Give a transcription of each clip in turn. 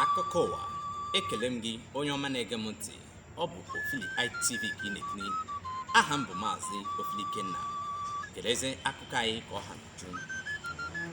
akụkọ ụwa ekele m gị onye ọma na-ege m ntị ọ bụ ofili itv ka ị na-ekiri aha m bụ maazị ofili ikenna kelezi akụkọ anyị ka ọ ha n'uju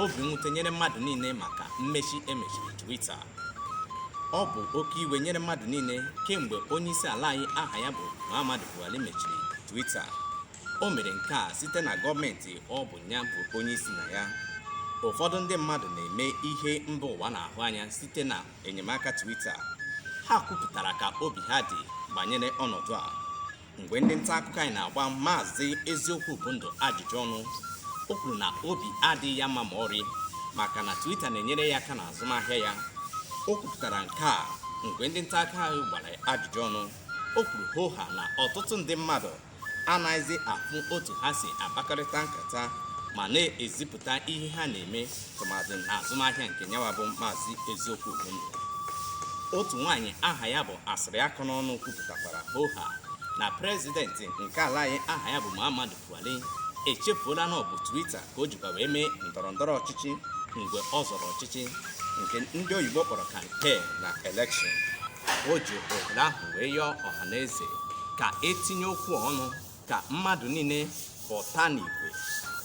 obi mwute nyere mmadụ niile maka mmechi e mechiri twitter ọ bụ oke iwe nyere mmadụ niile kemgbe onye isi ala anyị aha ya bụ muhammadu buhari mechiri twitter O mere nke a site na gọọmenti ọ bụ ya bụ onye isi na ya. Ụfọdụ ndị mmadụ na-eme ihe mba ụwa na-ahụ anya site na enyemaka Twitter. Ha kwupụtara ka obi ha dị banyere ọnọdụ a. Mgbe ndị nta akụkọ anyị na-agba Maazị Eziokwu bụ ndụ ajụjụ ọnụ, o kwuru na obi adịghị ya mma ma ọrị maka na Twitter na-enyere ya aka n'azụmahịa ya. O kwupụtara nke a mgbe ndị nta akụkọ anyị gbara ya ajụjụ ọnụ. O kwuru hoo ha na ọtụtụ ndị mmadụ anaghịzi afụ otu ha si akpakọrịta nkata ma na-ezipụta ihe ha na-eme tụmadị na azụmahịa nke nyawa bụ maazị eziokwu bụ ndụ otu nwaanyị aha ya bụ asịrị akọ n'ọnụ kwupụtakwara hoha na prezidenti nke ala anyị aha ya bụ Muhammadu Buhari echefuola na ọ bụ Twitter ka o jikwa wee mee ndọrọ ndọrọ ọchịchị mgbe ọ zọrọ ọchịchị nke ndị oyibo kpọrọ kampen na elekshọn o ji ohere ahụ wee yọọ ọha na eze ka e tinye okwu ọnụ ka mmadụ niile pụta n'igwe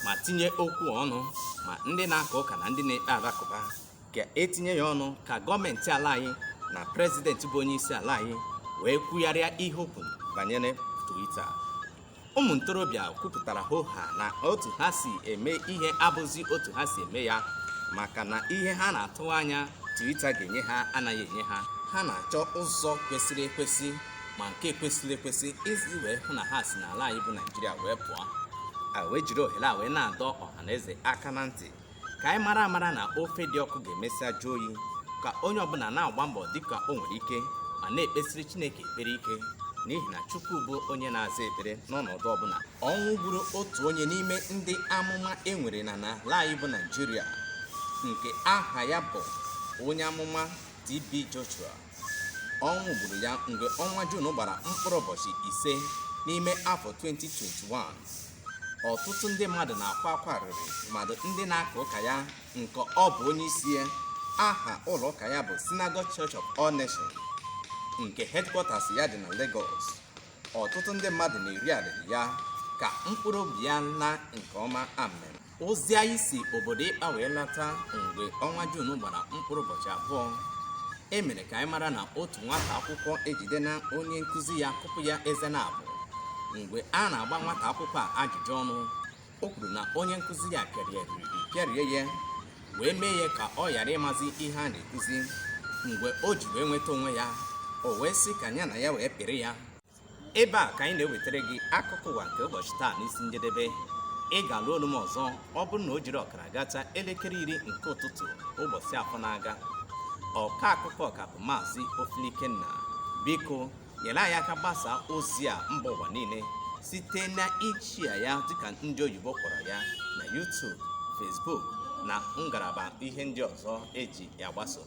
ma tinye okwu ọnụ ma ndị na-aka ụka na ndị na-ekpe alakụba ka e tinye ya ọnụ ka gọọmenti ala anyị na prezidenti bụ onye isi ala anyị wee kwugharịa ihe okwu banyere Twitter ụmụ ntorobịa kwupụtara hoha na otu ha si eme ihe abụzi otu ha si eme ya maka na ihe ha na-atụ anya Twitter ga-enye ha anaghị enye ha ha na-achọ ụzọ kwesịrị ekwesị ma nke ekwesịghị ekwesị isi wee hụ na ha si n'ala anyị bụ Naijiria wee pụọ a wee jiri ohere a wee na-adọ ọha na eze aka na ntị ka anyị mara amara na ofe dị ọkụ ga-emesịa jụọ oyi ka onye ọbụla na-agba mbọ dịka o nwere ike ma na-ekpesiri Chineke ekpere ike n'ihi na Chukwu bụ onye na-aza ekpere n'ọnọdụ ọbụla ọnwụ gburu otu onye n'ime ndị amụma e nwere na n'ala anyị bụ Naịjirịa nke aha ya bụ onye amụma TB Joshua ọnwụ gburu ya mgbe ọnwa Jun gbara mkpụrụ ụbọchị ise n'ime afọ 2021 ọtụtụ ndị mmadụ na-akwa akwa arịrị tụmadụ ndị na-aka ụka ya nke ọ bụ onye isi ya aha ụlọ ụka ya bụ Synagogue Church of All Nations nke headquarters ya dị na Lagos ọtụtụ ndị mmadụ na-eri arịrị ya ka mkpụrụ obi ya naa nke ọma amen ozi anyị si obodo ịkpa wee lata mgbe ọnwa juun gbara mkpụrụ ụbọchị abụọ e mere ka anyị mara na otu nwata akwụkwọ ejidena onye nkụzi ya kụpụ ya eze naabọ mgbe a na-agba nwata akwụkwọ a ajụjụ ọnụ o kwuru na onye nkụzi ya pịarie pịarie ya wee mee ya ka ọ ghara ịmazi ihe a na-ekuzi mgbe o ji wee nweta onwe ya o wee sị ka ya na ya wee pịrị ya ebe a ka anyị na-ewetara gị akụkọ ụwa nke ụbọchị taa n'isi njedebe ị ga-alụ olu m ọzọ ọ bụrụ na o jiri ọkara gacha elekere iri nke ụtụtụ ụbọchị afọ na-aga ọka akụkọ ka bụ maazị ofili ikenna biko nyere anyị aka gbasaa ozi a mba ụwa niile site na ịshare ya dịka ndị oyibo kpọrọ ya na YouTube Facebook na ngalaba ihe ndị ọzọ e ji agbasa o